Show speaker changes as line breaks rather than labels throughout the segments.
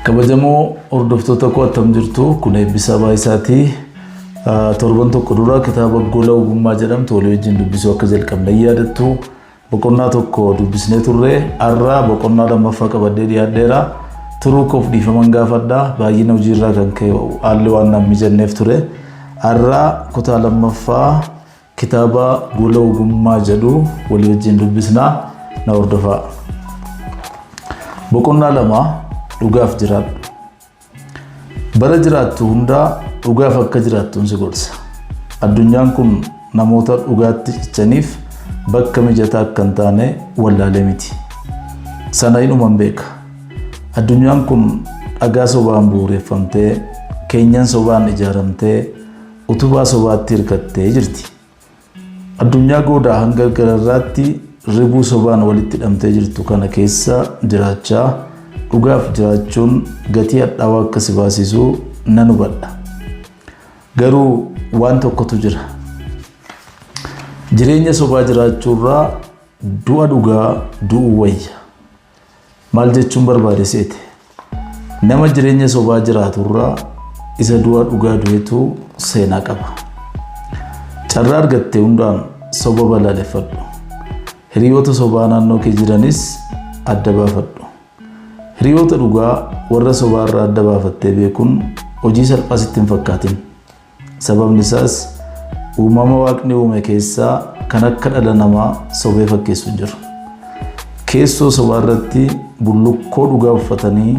Kabajamoo hordoftoota koo attam jirtu kun eebbisaa baay'isaati. Torban tokko dura kitaaba gola ogummaa jedhamtu walii wajjin dubbisuu akka jalqabne hin yaadattu. Boqonnaa tokko dubbisnee turre har'a boqonnaa lammaffaa qabadhee dhiyaadheera. Turuu koof dhiifaman gaafadha. Baay'ina hojiirraa kan ka'e haalli waan naan mijanneef ture. Har'a kutaa lammaffaa Kitaaba Gola Ogummaa jedhu walii wajjin dubbisnaa na hordofaa. Boqonnaa lama dhugaaf jiraadhu. Bara jiraattu hundaa dhugaaf akka jiraattuun si gorsa. Addunyaan kun namoota dhugaatti cichaniif bakka mijataa akka hin taane wallaalee miti. Sana inuman beeka. Addunyaan kun dhagaa sobaan bu'uureffamtee, keenyan sobaan ijaaramtee, Utubaa sobaatti hirkattee jirti. Addunyaa goodaa hanga gararraatti ribuu sobaan walitti hidhamtee jirtu kana keessa jiraachaa dhugaaf jiraachuun gatii hadhaawaa akka si baasisu nan hubadha. Garuu waan tokkotu jira. Jireenya sobaa jiraachuurraa du'a dhugaa du'uu wayya. Maal jechuun barbaade seete? Nama jireenya sobaa jiraatu irraa isa du'a dhugaa du'etu seenaa qaba. Carraa argatte hundaan soba balaaleffadhu. Hiriyoota sobaa naannoo kee jiranis adda baafadhu. Hiriyoota dhugaa warra sobaa irraa adda baafattee beekuun hojii salphaa sitti hin fakkaatin. Sababni isaas uumama Waaqni uume keessaa kan akka dhala namaa sobee fakkeessu hin jiru. Keessoo sobaa irratti bullukkoo dhugaa uffatanii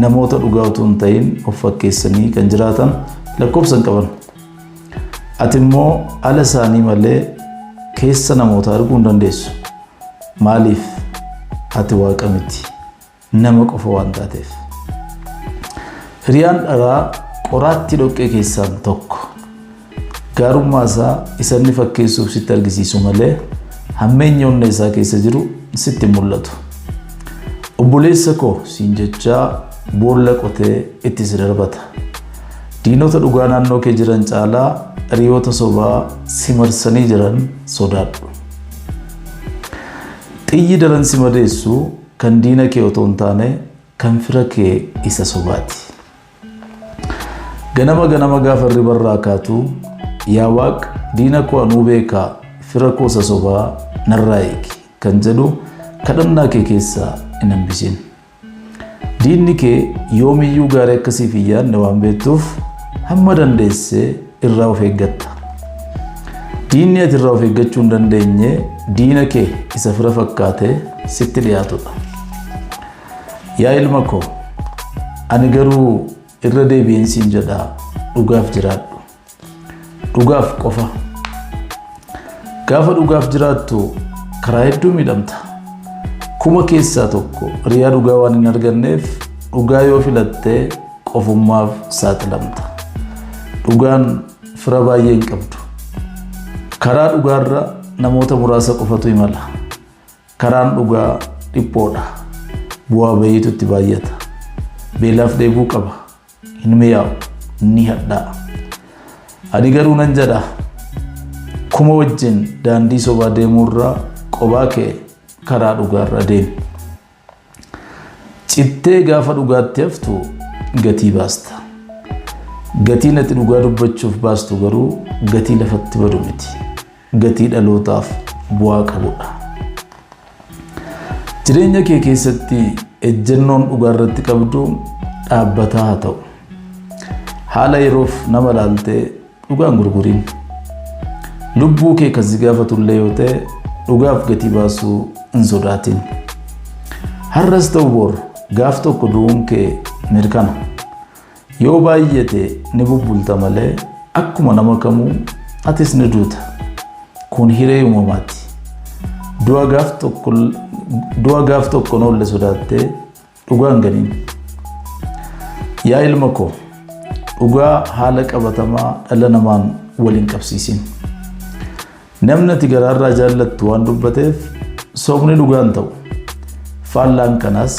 namoota dhugaa utuu hin ta'in of fakkeessanii kan jiraatan lakkoofsa hin qaban. Ati immoo ala isaanii malee keessa namoota arguu hin dandeessu. Maaliif? Ati Waaqa miti. nama qofa waan taateef. Firiyaan dharaa qoraattii dhoqqee keessaan tokko. Gaarummaa isaa isa inni fakkeessuuf sitti argisiisu malee hammeenya onnee isaa keessa jiru sitti hin mul'atu. Obboleessa koo siin jechaa boolla qotee itti si darbata. Diinota dhugaa naannoo kee jiran caalaa hiriyoota sobaa si marsanii jiran sodaadhu. Xiyyi daran si madeessu Kan diina kee otoo hin taane kan fira kee isa sobaati. Ganama ganama gaafa hirriba irraa kaatu yaa waaq diina koo anuu beeka fira koo isa sobaa narraa eegi kan jedhu kadhannaa kee keessaa hin hambisin. Diinni kee yoomiyyuu gaarii akka siif hin yaadne waan beektuuf hamma dandeesse irraa of eeggatta. Diinni ati irraa of eeggachuu hin dandeenye diina kee isa fira fakkaate sitti dhiyaatudha. Yaa ilma koo, ani garuu irra deebi'een siin jedha dhugaaf jiraadhu. Dhugaaf qofa. Gaafa dhugaaf jiraattu karaa hedduu miidhamta. Kuma keessaa tokko riyaa dhugaa waan hin arganneef dhugaa yoo filattee qofummaaf saaxilamta. Dhugaan fira baay'ee hin qabdu. Karaa dhugaarra namoota muraasa qofatu imala. Karaan dhugaa dhiphoodha. Bu'aa bayiitu itti baay'ata. Beelaaf dheebuu qaba. Hin mi'aawu. Ni hadhaa'a. Ani garuu nan jedha kuma wajjin daandii sobaa deemuurra qobaa kee karaa dhugaarra deemi. Cittee gaafa dhugaatti haftu gatii baasta. Gatiin ati dhugaa dubbachuuf baastu garuu gatii lafatti badu miti. Gatii dhalootaaf bu'aa qabudha. Jireenya kee keessatti ejjennoon dhugaa irratti qabdu dhaabbataa haa ta'u. Haala yeroof nama ilaaltee Dhugaa hin gurguriin. Lubbuu kee kan si gaafatu illee yoo ta'e dhugaaf gatii baasuu hin sodaatin. Har'as ta'u bor gaaf tokko du'uun kee mirkana. Yoo baay'ate ni bubbulta malee akkuma nama kamuu atis ni duuta. Kun hiree uumamaati. Du'a gaaf tokko du'a gaaf tokko hin oolle sodaattee Dhugaa hin ganiin. Yaa ilma koo dhugaa haala qabatamaa dhala namaan wal hin qabsiisin. Namni ati garaarraa jaallattu waan dubbateef sobni dhugaa hin ta'u. Faallaan kanaas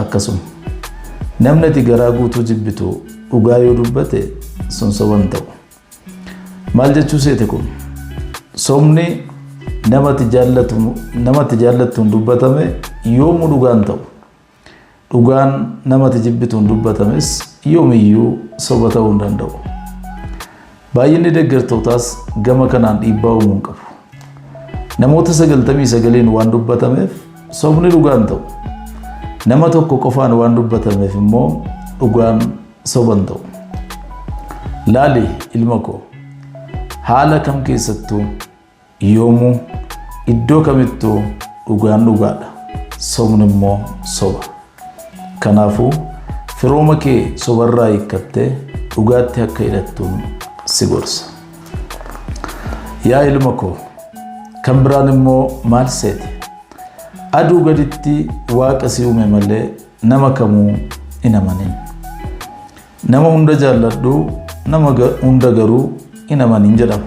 akkasuma. Namni ati garaa guutuu jibbitu dhugaa yoo dubbate sun soba hin ta'u. Maal jechuu seete kun? Sobni namatti jaallatu namatti jaallattuun dubbatame yoomuu dhugaa hin ta'u. Dhugaan namatti jibbituun dubbatames yoomiyyuu soba ta'uu hin danda'u. Baay'inni deeggartootaas gama kanaan dhiibbaa uumuu hin qabu. Namoota 99n waan dubbatameef sobni dhugaa hin ta'u. Nama tokko qofaan waan dubbatameef immoo dhugaan Soban ta'u. Laali ilma koo haala kam keessattuu yoomuu iddoo kamittuu dhugaan dhugaadha sobni immoo soba. Kanaafuu firooma kee sobarraa hiikkattee dhugaatti akka hidhattuun si gorsa. Yaa ilma koo kan biraan immoo maal seete? Aduu gaditti waaqa si uume malee Nama kamuu hin amanin. Nama hunda jaalladhu, nama hunda garuu hin amanin jedhama.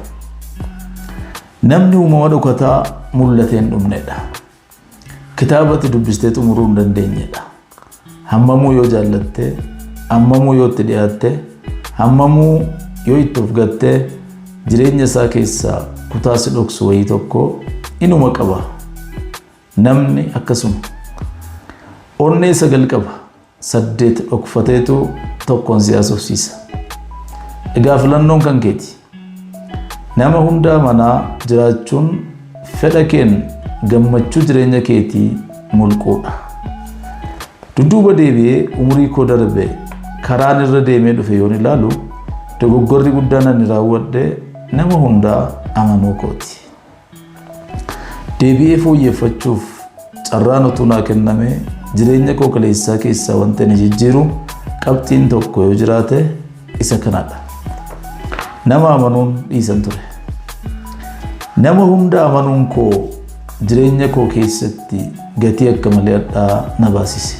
Namni uumama dhokataa mul'atee hin dhumnedha. Kitaabatti dubbistee xumuruu hin dandeenyedha. Hammamuu yoo jaallatte, hammamuu yoo itti dhiyaatte, hammamuu yoo itti of gatte jireenya isaa keessaa kutaa si dhoksu wayii tokko inuma qaba. Namni akkasuma. Onnee sagal qaba. Saddeet dhokfateetu tokkoon si haasofsiisa. Egaa filannoon kan keeti. Nama hundaa manaa jiraachuun fedha keen gammachuu jireenya keetii mulquudha. Dudduuba deebi'ee umurii koo darbe karaan irra deemee dhufe yoon ilaalu dogoggorri guddaan ani raawwadhe nama hundaa amanuu kooti. Deebi'ee fooyyeffachuuf carraan utuu naa kennamee jireenya koo kaleessaa keessaa wanta inni jijjiiru qabxiin tokko yoo jiraate isa kanadha. Nama amanuun dhiisan ture. Nama hunda amanuun koo jireenya koo keessatti gatii akka malee hadhaa na baasise.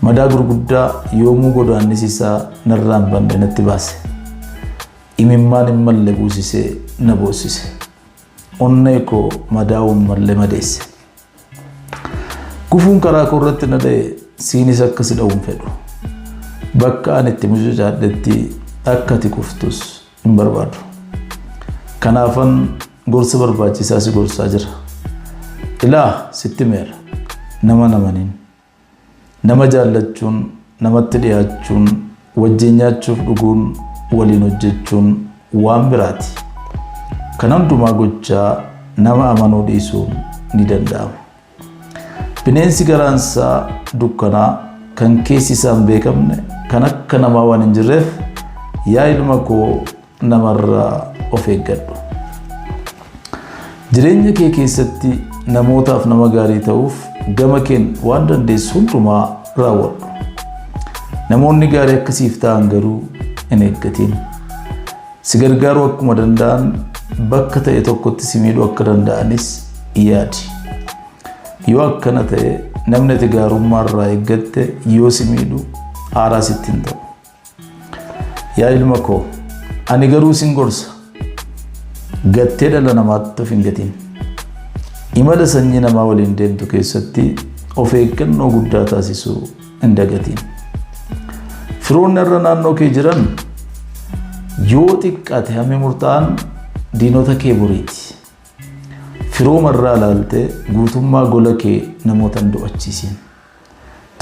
Madaa gurguddaa yoomuu godaannisi isaa narraa hin banne natti baase. Imimmaan hin malle buusisee na boossise. Onnee koo madaa'uu hin malle madeesse. Gufuun karaa koo irratti na dha'e siinis akka si dha'u hin fedhu. Bakka ani itti mucucaadhetti akka ati kuftus hin barbaadu. Kanaafan gorsa barbaachisaa si gorsaa jira. Ilaa sitti himeera. Nama namaniin. Nama jaallachuun, namatti dhiyaachuun, wajjin nyaachuuf dhuguun, waliin hojjechuun waan biraati. Kana hundumaa gochaa nama amanuu dhiisuun ni danda'ama. Bineensi garaansaa dukkanaa kan keessi isaa hin beekamne kan akka namaa waan hin jirreef yaa ilma koo namarraa of eeggadhu. Jireenya kee keessatti namootaaf nama gaarii ta'uuf gama keen waan dandeessu hundumaa raawwadhu. Namoonni gaarii akkasiif ta'an garuu hin eeggatiin. Si gargaaruu akkuma danda'an bakka ta'e tokkotti si miidhuu akka danda'anis yaadi. Yoo akkana ta'e namni ati gaarummaa irraa eeggatte yoo si miidhu aaraa sitti hin ta'u. Yaa ilma koo, ani garuu sin gorsa. Gattee dhala namaatti of hin gatiin. Imala sanyii namaa waliin deemtu keessatti of eeggannoo guddaa taasisuu hin dagatiin. Firoonni irra naannoo kee jiran yoo xiqqaate hammi murtaa'an diinota kee boriiti. Firooma irraa ilaaltee guutummaa gola kee namoota hin do'achiisiin.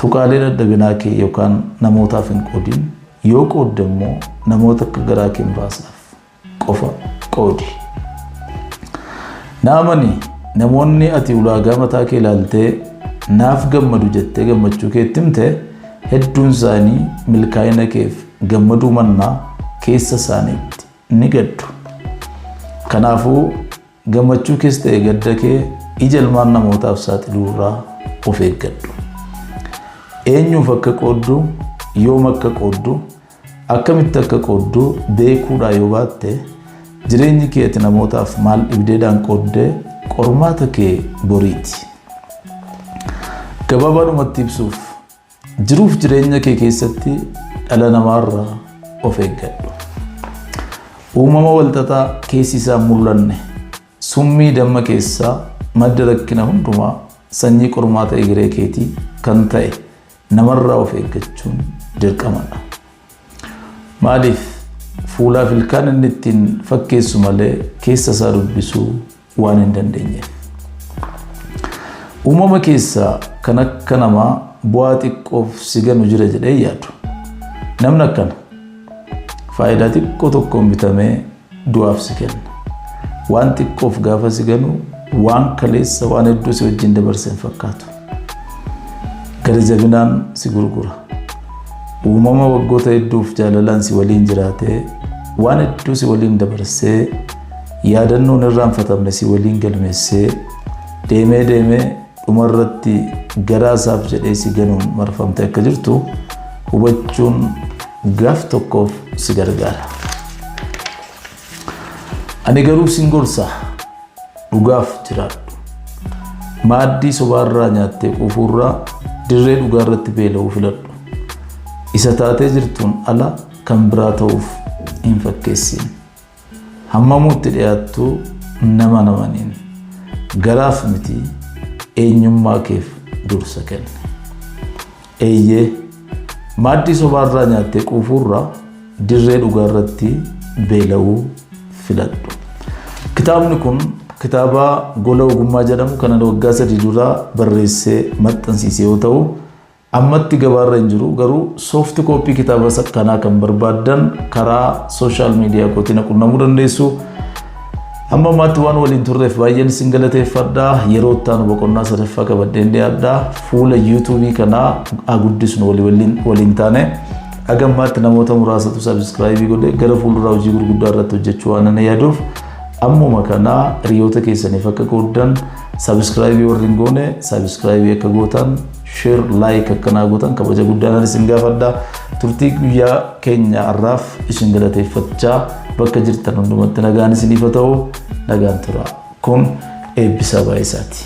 Tuqaalee dadhabinaa kee yookaan namootaaf hin qoodin. Yoo qoodde immoo namoota akka garaa kee muraasaaf. qofa qoodi. Naamani, namoonni ati ulaagaa mataa kee ilaaltee naaf gammadu jettee gammachuu kee itti himte hedduun isaanii milkaa'ina keef gammaduu mannaa keessa isaaniitti ni gaddu. Kanaafuu Gammachuu kees ta'e gadda kee ija ilmaan namootaaf saaxiluu irraa of eeggadhu. Eenyuuf akka qooddu, yoom akka qooddu, akkamitti akka qooddu beekuudhaa yoo baatte jireenyi kee ati namootaaf maal dhibdeedhaan qoodde qormaata kee boriiti. Gabaabaadhumatti ibsuuf Jiruuf jireenya kee keessatti dhala namaarraa of eeggadhu. Uumama walxaxaa keessi isaa hin mul'anne, summii damma keessaa madda rakkina hundumaa, sanyii qormaata egeree keetii kan ta'e namarraa of eeggachuun dirqamadha. Maaliif fuulaaf ilkaan inni ittiin fakkeessu malee keessa isaa dubbisuu waan hin dandeenyeef. Uumama keessaa kan akka namaa bu'aa xiqqoof si ganu jira jedhee yaadu. Namni akkana faayidaa xiqqoo tokkoon bitamee du'aaf si kenna. Waan xiqqoof gaafa si ganu waan kaleessa waan hedduu si wajjin dabarse hin fakkaatu. Gara jabinaan si gurgura. Uumama waggoota hedduuf jaalalaan si waliin jiraatee waan hedduu si waliin dabarsee Yaadannoo hin irraanfatamne si waliin galmeessee, deemee deemee dhuma irratti garaa isaaf jedhee si ganuun marfamtee akka jirtu hubachuun gaaf tokkoof si gargaara. Ani garuu sin gorsa dhugaaf jiraadhu. Maaddii sobaarraa nyaattee quufuurraa dirree dhugaa irratti beela'uu filadhu. Isa taatee jirtuun ala kan biraa ta'uuf hin fakkeessiin. Hammamuu itti dhiyaattu nama namaniin garaaf miti eenyummaa keef dursa kenni. Eeyyee, maaddii sobaarraa nyaattee quufuurra dirree dhugaarratti beela'uu filadhu. Kitaabni kun kitaaba Gola Ogummaa jedhamu kanan waggaa sadii dura barreessee maxxansiise yoo ta'u, Ammatti gabaarra hin jiru garuu soft copy kitaaba kanaa kan barbaaddan karaa social media kootii na qunnamuu dandeessu. Amma ammaatti waan waliin turreef baay'een isin galateeffadha. Yeroo itti aanu boqonnaa sadaffaa qabadheen dhiyaadha. Fuula YouTube kanaa haa guddisnu walii waliin waliin taane. Haga ammaatti namoota muraasatu subscribe godhe gara fuulduraa hojii gurguddaa irratti hojjechuu waan ani yaaduuf ammuma kana hiriyoota keessaniif akka qooddan subscribe warri hin goone subscribe akka gootan Share, like akka naa gootan kabaja guddaadhaan isin gaafadha. Turtii guyyaa keenya har'aaf isin galateeffachaa bakka jirtan hundumatti nagaan isiniif haa ta'u nagaan tura. Kun eebbisaa baay'isaati.